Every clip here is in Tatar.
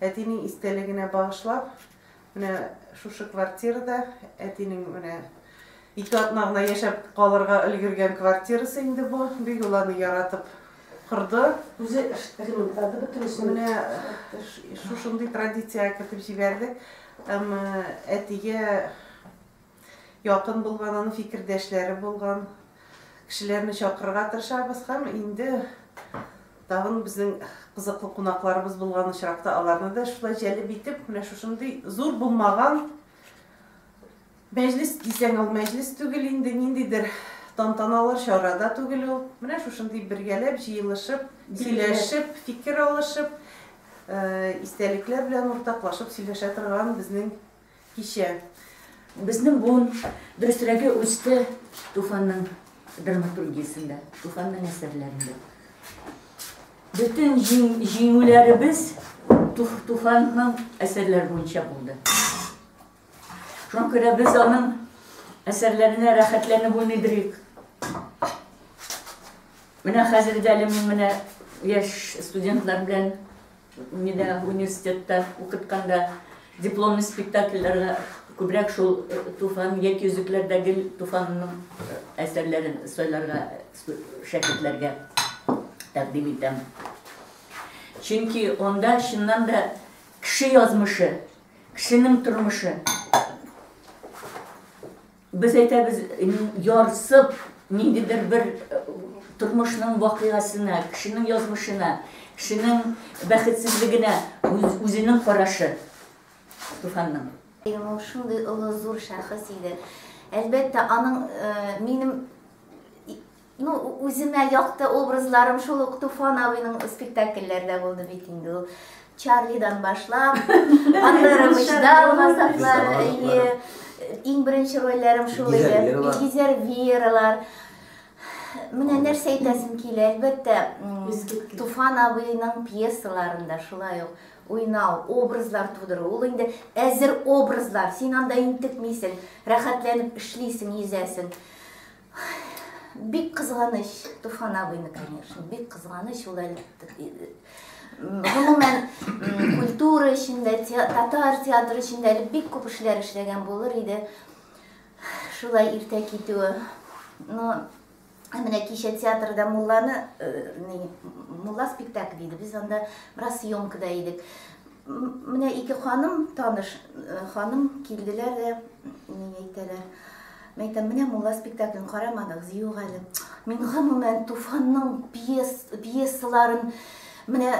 Әтинең истәлегенә багышлап, менә шушы квартирада, әтинең менә ике атна гына яшәп калырга өлгергән квартирасы инде бу. Бик ул аны яратып корды. Үзе ремонтлады бөтенесен. Менә шушындый традициягә кертеп җибәрдек. Әмма әтигә Якын булган, аның фикердәшләре булган кешеләрне чакырырга тырышабыз һәм инде тагын безнең кызыклы кунакларыбыз булган очракта аларны да шулай җәлеп итеп, менә шушындый зур булмаган мәҗлес дисәң, ул мәҗлес түгел инде, ниндидер тантаналар чара да түгел ул. Менә шушындый бергәләп җыелышып, сөйләшеп, фикер алышып, истәлекләр белән уртаклашып сөйләшә торган безнең Кичә. Безнең буын, дөресрәге, үсте Туфанның драматургиясендә, Туфанның әсәрләрендә. Бөтен җиңүләребез Туфанның әсәрләре буенча булды. Шуңа күрә без аның әсәрләренә рәхәтләнеп уйныйдырыйк. Менә хәзер дә әле мин менә яшь студентлар белән Мине университетта укытканда дипломный спектакльләргә күбрәк шул э, Туфан яки Өзекләрдә гел Туфанның э, әсәрләрен сайларга э, шәкертләргә тәкъдим итәм. Чөнки анда чыннан да кеше язмышы, кешенең тормышы Без әйтәбез, ярсып, ниндидер бер тормышның вакыйгасына, кешенең язмышына, кешенең бәхетсезлегенә үзенең карашы Туфанның. Ул шундый олы зур шәхес иде. Әлбәттә, аның минем Ну, үземә якты образларым шул ук Туфан абыйның спектакльләрдә булды бит инде ул. Чарлидан башлап, аннары Вычдал Газаплары, әйе. Иң беренче рольләрем шул иде. Гизер Виералар. Менә нәрсә әйтәсем килә, әлбәттә, Туфан абыйның пьесаларында шулай ук уйнау, образлар тудыру. Ул инде әзер образлар. Син анда интекмисең, рәхәтләнеп эшлисең, йөзәсең. Бик кызганыч, Туфан абыйны, конечно, бик кызганыч ул әле. Гомумән, культура эчендә, татар театры эчендә әле бик күп эшләр эшләгән булыр иде. Шулай иртә китүе. Но менә кичә театрда мулланы, э, мулла спектакль иде. Без анда бераз съемкада идек. Менә ике ханым, таныш ханым килделәр дә, ни әйтәләр. Мин әйтәм, менә мулла спектаклен карамадыгыз, юк әле. Мин гомумән Туфанның пьес, пьесаларын менә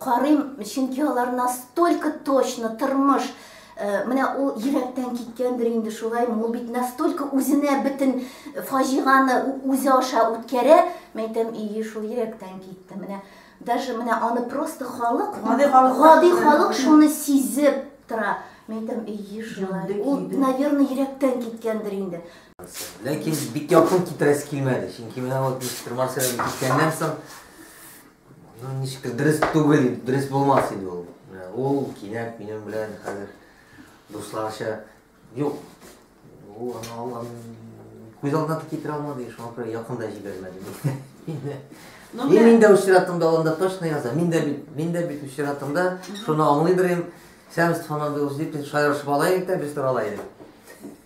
карыйм, чөнки алар настолько точно тормыш менә ул йөрәктән киткәндер инде шулай ул бит настолько үзенә бөтен фаҗиганы үзе аша үткәрә мәйтәм и шул йөрәктән китте менә Даже менә аны просто халык, гади халык, гади халык шуны сизеп тора. Мин әйтәм, ие шулай. Ул, наверное, йөрәктән киткәндер инде. Ләкин бик якын китерәсе килмәде. Чөнки менә вот мистер Марсель киткәннән соң, ну, ничектер дөрес түгел, дөрес булмас иде ул. Ул кинәт минем белән хәзер дусларча Юк. Ул аны алган күз алдына да китерә алмады, шуңа күрә якын да җибәрмәде. Ну, И мин дә очратымда анда точно яза. Мин дә бит, мин дә бит очратымда шуны аңлыйдыр идем. Сәмс фонадылж дип шаярышып алайык та, без торалайдык.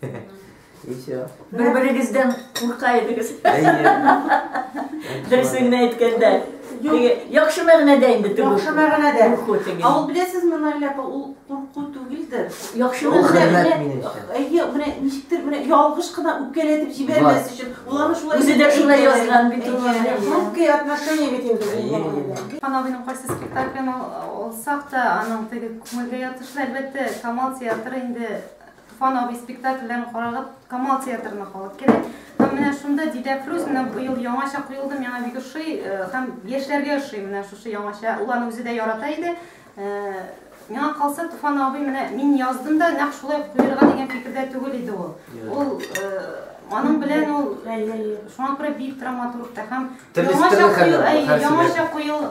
И все. Бер-берегездән курка идегез. Дөресен генә әйткәндә. Теге яхшы мәгънәдә инде теге. Яхшы мәгънәдә. Курку теге. Ә ул беләсезме, Наилә апа, ул курку түгелдер. Яхшы Ул хөрмәт мәгънәдә. минемчә. Әйе, менә ничектер менә ялгыш кына үпкәләтеп җибәрмәс Бар. өчен. Ул аны шулай Үзе дә шулай әйтә. язган бит ул. Әйе. Хрупкие отношения бит инде. Әйе, әйе, әйе. Хан абыйның кайсы спектаклен ал- алсак та, аның теге күңелгә ятышлы, әлбәттә, Камал театры инде Туфан абый спектакльләрен карарга Камал театрына халык керә. Һәм менә шунда Дидә Фрүз менә быел яңача куелды, миңа бик ошый э, һәм яшьләргә ошый менә шушы яңача. Ул аны үзе дә ярата иде. Э, миңа калса Туфан абый менә мин яздым да нәкъ шулай куярга дигән фикердә түгел иде ул. Ул э, аның белән ул шуңа күрә бик драматург та һәм яңача куел, яңача куел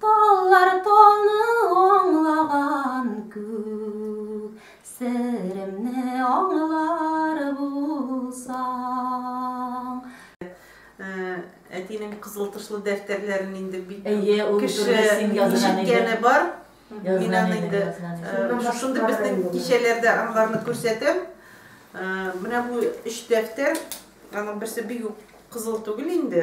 Таллар талны аңлаган күк, Серемне аңлар булсаң. Әтинең кызыл тышлы дәфтәрләрен инде бик кеше ишеткәне бар. Мин аны инде шушында безнең кичәләрдә аларны күрсәтәм. Менә бу өч дәфтәр, аның берсе бик үк кызыл түгел инде.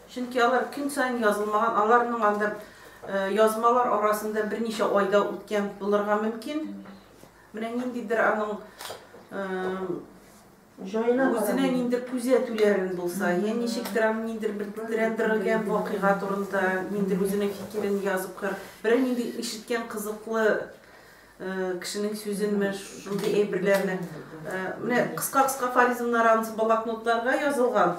Чөнки алар көн саен язылмаган, аларның анда язмалар арасында берничә айда үткән булырга мөмкин. Менә ниндидер аның үзенә нинди күзәтүләрен булса, я ничектер аны ниндер бер тетрәндерелгән вакыйга турында ниндер үзенең фикерен язып кыр. Бер нинди ишеткән кызыклы кешенең сүзенме, шундый әйберләрне. Менә кыска-кыска фаризмнар анысы блокнотларга язылган.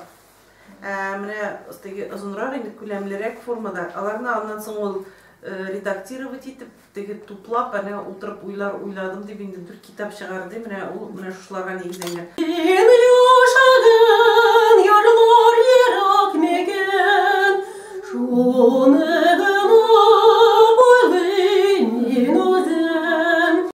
Менә теге озынрак инде күләмлерәк формада. Аларны аннан соң ул редактировать итеп, теге туплап, әнә утырып уйлар уйладым дип инде дүрт китап чыгарды. Менә ул менә шуларга нигезләнгән. Ил яшәгән ярлар ерак микән? Шуны гына уйлыйм мин үзем.